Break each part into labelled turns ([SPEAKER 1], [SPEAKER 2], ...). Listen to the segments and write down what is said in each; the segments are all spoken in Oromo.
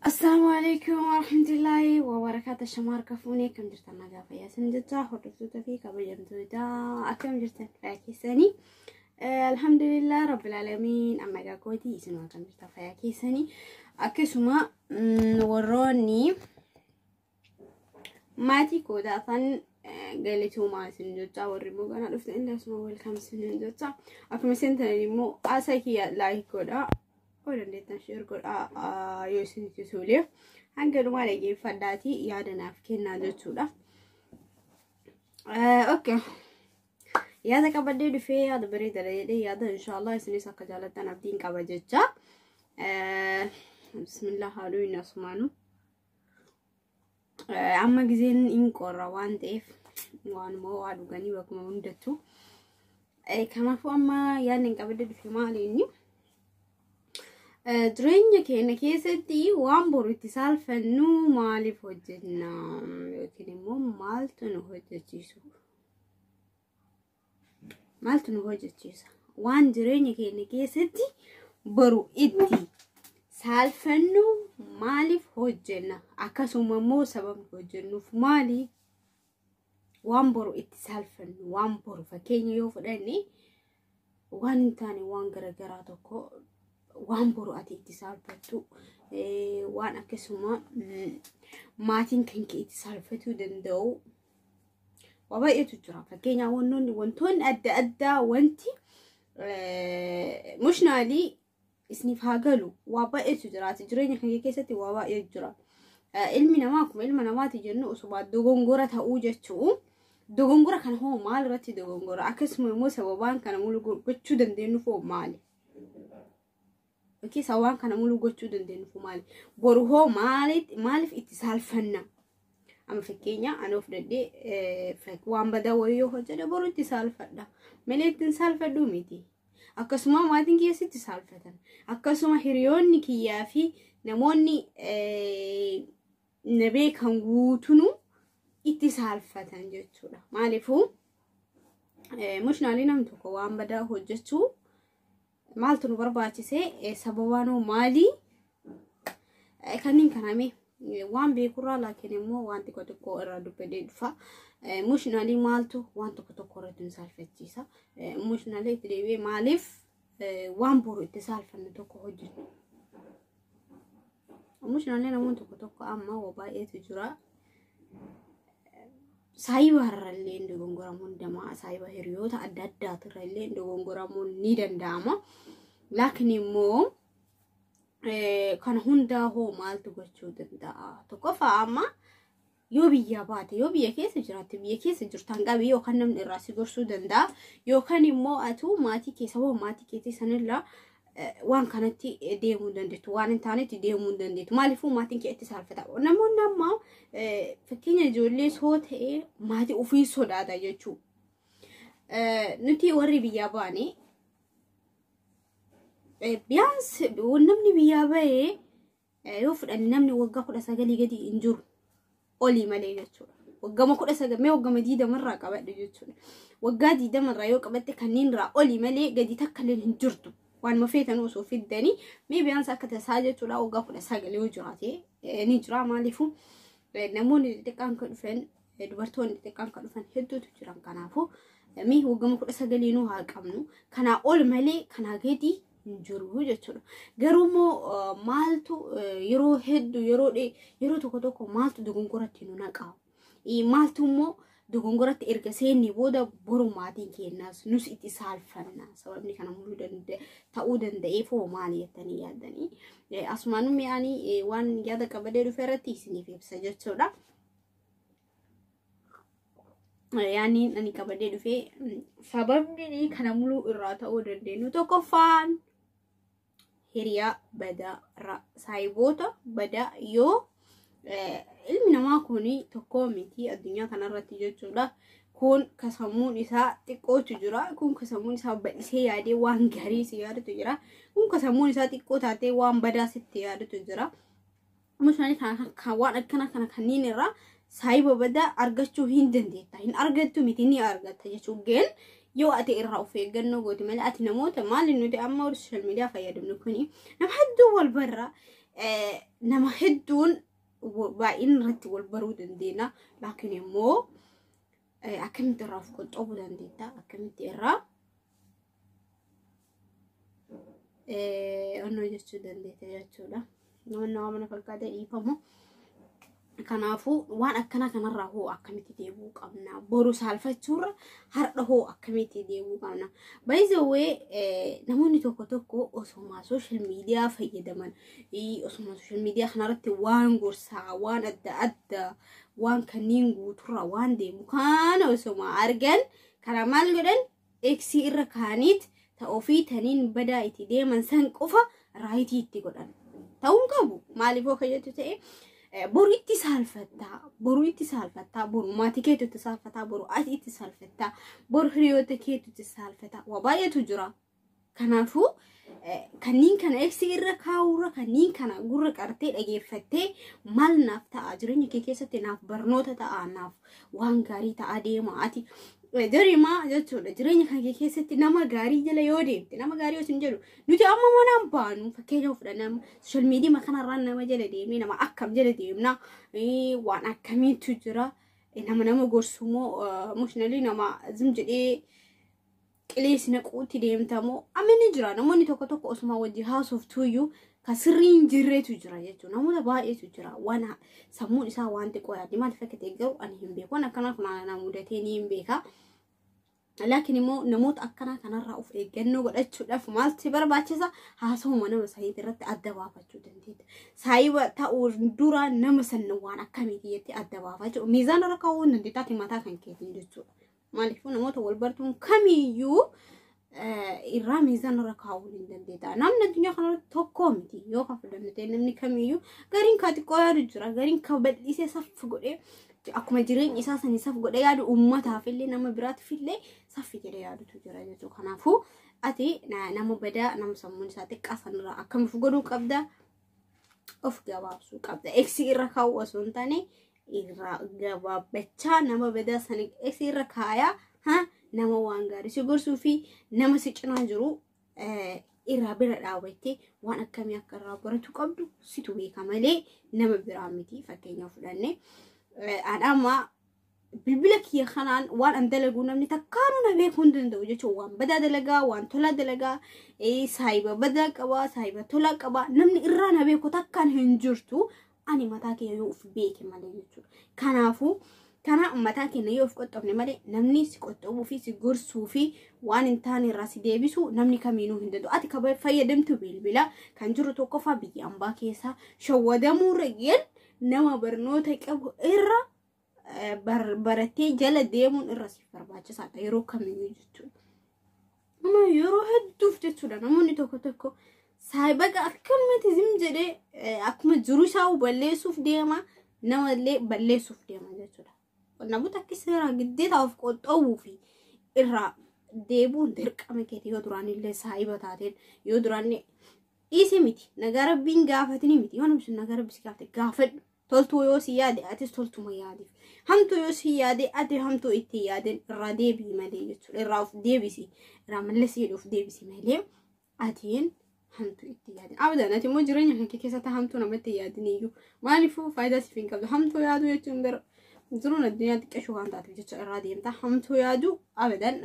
[SPEAKER 1] Assalaamu alaikum warahmatullaahi wabarakaatu shamaar kafuunee akkam jirtan nagaa fayyaa isin jechaa hordoftoota fi kabajamtoota akkam jirtan fayyaa keessanii alhamdulillah rabbil alamiin amma egaa kooti isin akkam jirtan fayyaa keessanii akkasuma warroonni Maatii koo taatan galatoomaa isin jechaa warri immoo ganaa dhuftan illee asuma welkaam isin jechaa akkuma isin tanan immoo haasaa kiyya laayik godhaa yoo dandeettan sheer godhaa yoo isin itti tolee hanga dhumaa dhaggeeffadhaatii yaada naaf kennaa jechuudha. Okay. Yaada qabadhee dhufee yaada bareeda jedhee yaada inshaallah isinis akka jaallattan abdiin qaba jechaa. Bismillah haaluu inni asumaanuu. Amma gizeen hin qorra waan ta'eef waanuma waa dhuganii bakkuma hundattu. Kanaafuu amma yaadni hin qabadde dhufe maali inni? Jireenya keenya keessatti waan boru itti saalfannu maaliif hojjenna yookiin immoo maaltu nu hojjechiisu? maaltu nu hojjechiisa waan jireenya keenya keessatti boru itti saalfannu maaliif hojjenna akkasuma immoo sababni hojjennuuf maali waan boru itti saalfannu waan boru fakkeenya yoo fudhanne waan hin taane waan garaagaraa tokko waan boru ati itti saalfattu waan akkasuma maatiin kan kee itti saalfatuu danda'u Waa baay'eetu jira. Fakkeenyaaf wantoonni wantoonni adda addaa wanti mushnaalii isiniif haa galu waa baay'eetu jiraati. Jireenya keenya keessatti waa baay'eetu jira. Ilmi namaa akkuma ilma namaati jennu osuma dogongora ta'uu jechuun dogongora kana hoo maal irratti dogongora akkasuma immoo sababaan kana mulu gochuu dandeenyu hoo maali? Keessa waan kana muluu gochuu dandeenyu maali? Boru hoo maaliif itti saalfanna? Amma fakkeenya ani of dandee waan badaa wayii yoo hojjedhe boru itti saalfadha. Malee ittiin saalfadhu miti. Akkasuma maatiin kiyyaas itti saalfatan. Akkasuma hiriyoonni kiyyaa fi namoonni na beekan guutunuu itti saalfatan jechuudha. Maaliifuu mushnaali nam tokko waan badaa hojjechuu Maaltu nu barbaachise? Sababaanoo maali? Kanneen kaname waan beekurraa laakiin immoo waan xiqqoo xiqqoo irraa dubbadee dhufa. Mushinaalii maaltu waan tokko tokko irratti nu saalfachiisa. Mushinaalii itti deebi'ee maaliif waan boru itti saalfannu tokko hojjennu. Omishinallee namoonni tokko tokko amma waa baay'eetu jira. Saayiba irrallee dogongoramuun damaa saayiba hiriyoota adda addaatu irrallee dogongoramuun ni danda'ama. Laakiin immoo kan hundaa hoo maaltu gochuu danda'a? Tokkoffaa amma yoo biyyaa baate yoo biyya keessa jiraatte biyya keessa jirtaan qabi yookaan namni irraa si gorsuu danda'a yookaan immoo atuu maatii keessa hoo maatii keetii sanirraa eh, waan kanatti eh, deemuu hin dandeettu waan hin taanetti deemuu hin dandeettu maaliifuu maatiin kee itti saalfata namoonni ammaa eh, fakkeenya ijoollee soo ta'ee maatii ofii sodaata jechuu Eh, nuti warri biyyaa baane eh, biyyaans namni biyyaa bahee yoo fudhanne namni waggaa kudha sagalii gadi hin jiru olii malee jechuudha. Waggama kudha sagal mee waggama diidama irraa qabadhu jechuudha. Waggaa diidama irraa yoo qabatte kanneen irraa olii malee gadi takka illee hin jirtu. Waan mafeetan osoo fiddanii mee biyyaansa akka tasaa jechuudha waggaa kudha sagal yoo jiraate ni jira maaliifuu namoonni xixiqqaan kan dhufan Dubartoonni xixiqqaan kan dhufan hedduutu jiran kanaafuu mee hoggama kudha sagaliinuu haa qabnu kanaa ol malee kanaa gadi hin jiru jechuudha. Garuu immoo maaltu yeroo hedduu yeroo yeroo tokko tokko maaltu dogongoratti nu naqaa? Maaltu immoo dogongoratti erga seennee booda boru maatiin keenyaas nus itti saalfanna. Sababni kana muluu ta'uu danda'eef hoo maali jettanii yaaddanii? Asumaan mi'aanii waan yaada qabadee dhufe irratti isiniif ibsa jechuudha. yaaniin ani qabadee dhufe sababni kana muluu irraa ta'uu dandeenyu tokkoffaan hiriyaa badaa irraa saayiboota badaa yoo ilmi namaa kun tokkoo miti addunyaa kanarratti jechuudha. Kun kasammuun isaa xiqqootu jira. Kun kasammuun isaa bal'isee yaadee waan gaarii si yaadatu jira. Kun kasammuun isaa xiqqoo taatee waan badaa sitti yaadatu jira. Amma isaanii kana kan- kan waan akkana kana kanneen irraa saayiba badaa argachuu hin dandeetta. Hin argattu miti ni argatta jechuun ga'een yoo ati irraa of eeggannoo goote malee ati namoota maali nuti amma warri sooshaal miidiyaa fayyadamnu kuni nama hedduu wal barra eh, nama hedduun wa- baay'ina irratti wal baruu dandeenya laakiin immoo eh, akkamitti irraa of qoxxoobuu dandeetta akkamitti irraa onnoo jechuu dandeete jechuudha. Namoonni waan mana fakkaatee dhiifamu. Kanaafuu waan akkana kanarraa hoo akkamitti deebi'uu qabna? Boru saalfachuurra har'a hoo akkamitti deebi'uu qabna? Baay'isawwee namoonni tokko tokko osuma sooshaal miidiyaa fayyadaman osuma sooshaal miidiyaa kanarratti waan gorsaa waan adda addaa waan kanneen guuturraa waan deemu kana osuma argan kana maal godhan X irra kaaniit ta ofii taniin badaa itti deeman san qofa raayitii itti godhan. Ta'uu hin qabu. Maaliif hoo kan jettu ta'e boru itti saalfattaa, boru itti saalfattaa, boru maatii keetu itti saalfattaa, boru ati itti saalfattaa, boru hiriyoota keetu itti saalfattaa. Waa baay'eetu jira. Kanaafuu kanniin kana eegsii irra kaa'uurra kanniin kana gurra qartee dhageeffattee maal naaf ta'a jireenya kee keessatti naaf barnoota ta'a naaf waan gaarii ta'a deema ati dorimaa jechuudha jireenya kan kee keessatti nama gaarii jala yoo deemte nama gaarii osoo hin jedhu nuti amma manaan baanu fakkeenya of fudhannama soshal miidiyaa kanarraa nama jala deemee nama akkam jala deemna waan akkamiitu jira nama nama gorsumoo emotionally nama zim jedhee qileessi naquutti deemta moo amma ni jira namoonni tokko tokko osuma wajji haasoftuuyyuu ka sirrii hin jirreetu jira jechuudha namoota baay'eetu jira waan ha- sammuun isaa waan xiqqoo yaaddi maal fakkatee garuu ani hin beeku waan akkanaa kun aanaa mudatee ni hin beeka laakiin immoo namoota akkanaa kanarraa of eeggannoo godhachuudhaaf maaltu barbaachisa haasawuma nama saniitii irratti adda baafachuu dandeetta saayiba ta'uu dura nama sanna waan akkamiiti jettee adda baafachuu miizaanarra kaa'uu hin dandeettaati mataa kan keetiin jechuudha Maaliifuu namoota wal bartuun kamiyyuu irraa miizaan irra kaa'uu hin dandeetta. Namni addunyaa kanarratti tokko miti yoo kan fudhanne ta'e namni kamiyyuu gariin kan xiqqoo yaadu jira gariin kan bal'isee saffi godhee akkuma jireenya isaa sanii saf godhee yaadu uummataaf illee nama biraatiif illee saffi jedhee yaadutu jira jechuudha. Kanaafuu ati nama badaa nama sammuun isaa xiqqaa sanirraa akkamiif godhuu qabda of gabaabsuu qabda eksi irra kaa'uu osoo hin taane irraa gabaabbachaa nama badaa sana eksi irra kaayaa ha nama waan gaarii si gorsuu fi nama si cinaa jiru eh, irraa bira dhaabattee waan akkamii akka irraa baratu qabdu situ beeka malee nama biraa miti fakkeenyaaf fudhanne Eh, an amma bilbila kiyya kanaan waan an dalagu namni takkaanuu na beekuu hin danda'u jechuun waan badaa dalagaa waan tolaa dalagaa ee, saahiba badaa qabaa saahiba tolaa qabaa namni irraa na beeku takkaan hin jirtu ani mataa kiyya yoo of beeke malee jechuudha kanaafuu kanaa mataa keenya yoo of qoxxofne malee namni si qoxxofuu fi si gorsuu fi waan hin taane irraa si deebisu namni kamiinuu hin danda'u ati kan fayyadamtu bilbila kan jiru tokkoffaa biyya ambaa keessaa shawwadamuu irra nama barnoota qabu irra barattee jala deemuun irra siif barbaachisaadha yeroo kamiyyuu jechuudha. Amma yeroo hedduuf jechuudha namoonni tokko tokko saayibaga akkanumatti zim jedhee akkuma jiru isaa balleessuuf deema namallee balleessuuf deema jechuudha. Qonnaan bultoota akka seeraa giddeetaa of qoxxoowwuu fi irraa deebuun dirqama keeti yoo duraan illee saayiba taateen yoo duraan dhiise miti nagaa rabbiin gaafatini miti yoo namni sun nagaa rabbi si gaafate gaafadhu Toltuu yoo si yaade atis toltuma yaadiif. Hamtuu yoo si yaade ati hamtuu itti yaadin irraa deebi'i malee jechuudha. Irraa of deebisi. Irraa mallasii jedhu of deebisi malee atiin hamtuu itti yaadin. Abdaan ati immoo jireenya kan kee keessatti hamtuu namatti yaadin iyyuu. Maaliifuu faayidaa siif hin qabdu. Hamtuu yaaduu jechuun bara jiruun addunyaa xiqqeeshu waan taateef jecha irraa deemta. Hamtuu yaaduu abadan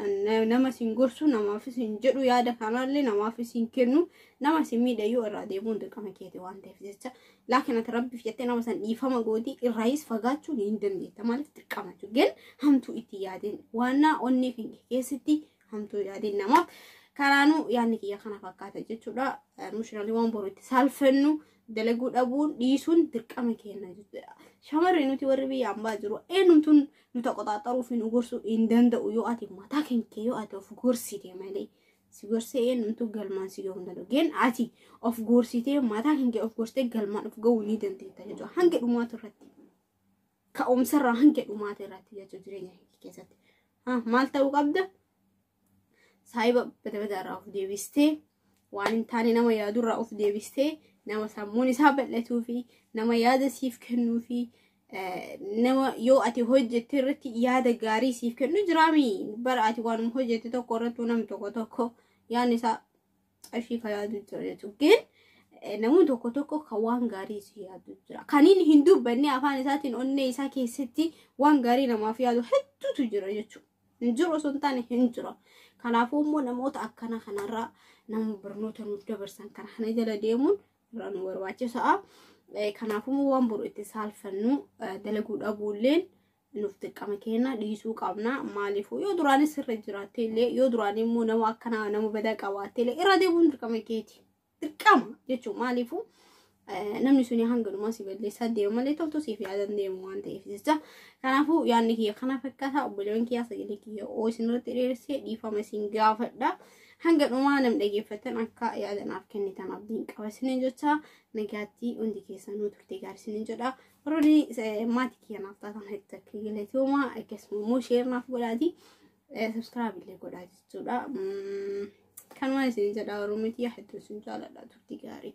[SPEAKER 1] nama siin gorsu namaafis hin jedhu yaada kanaallee namaafis hin kennu nama siin miidhayyuu irraa deemuun dirqama keeti waan ta'eef jecha Laakiin ati rabbiif jettee nama san dhiifama gootii irraayis fagaachuu ni hin dandeetta maaliif dirqama jechuudha. Gan hamtuu itti yaadeen waannaa onnee keenya keessatti hamtuu yaadeen namaaf kanaanuu yaadni kiyya kana fakkaata jechuudha. Mushiralii waan boru itti saalfennu dalaguu dhabuun dhiisuun dirqama keenya jechuudha. Shamarri nuti warri biyya ambaa jiru eenyumtuun nu taqoxaaxaruu fi nu gorsuu hin danda'u yoo ati mataa keenya yoo ati of gorsite malee. si gorsee eenyumtuu galmaan si gahuu hin danda'u. Geen ati of gorsitee mataa kan kee of gorsitee galmaan of gahuu ni dandeetta jechuudha. Hanga dhumaatu irratti ka'umsarraa hanga dhumaatu irratti jechuudha jireenya kee keessatti. Maal ta'uu qabda? Saayiba badabadaarraa of deebistee waan hin taane nama yaadurraa of deebistee nama sammuun isaa bal'atuu fi nama yaada siif kennuu fi nama yoo ati hojjette irratti yaada gaarii siif kennu jiraami bara ati waanuma hojjette tokko irrattuu nam tokko tokko yaadni isaa qarshii kan yaadu jira jechuudha gin namni tokko tokko kan waan gaarii si yaadu jira kan inni hin dubbanne afaan isaatiin onnee isaa keessatti waan gaarii namaaf yaadu hedduutu jira jechuudha hin jiru osoo hin taane hin jira kanaafuu immoo namoota akkana kanarraa nama barnoota nuuf dabarsan kana kana jala deemuun biraa nu barbaachisa'a. Kanaafuu waan boru itti saalfannu dalaguu dhabuulleen nuuf dirqama keenya dhiisuu qabna. Maaliifuu yoo duraanis irra jiraattee illee yoo duraan immoo nama akkanaa nama badaa qabaattee illee irra deebi'uun dirqama keeti. Dirqama jechuun maaliifuu namni suni hanganumaa si balleessaa deema malee toltu siif yaadan deemu waan ta'eef jecha. Kanaafuu yaadni kiyya kana fakkaata obboleewwan kiyyaa sagalee kiyya oo isinirratti dheeressee dhiifama isin gaafadha. Hanga dhumaa nam dhaggeeffattan akka yaada naaf kennitan abdiin qaba isiniin jecha nagaatti hundi keessanuu turte gaarii isiniin jedha. Warroonni maatii kiyya naaf taatan hedduu akka galatooma akkasuma immoo sheer naaf godhaati sabskiraayib illee godhaa jechuudha. Kanumaan isiniin jedha warroonni kiyya hedduu isin jaaladha turte gaarii.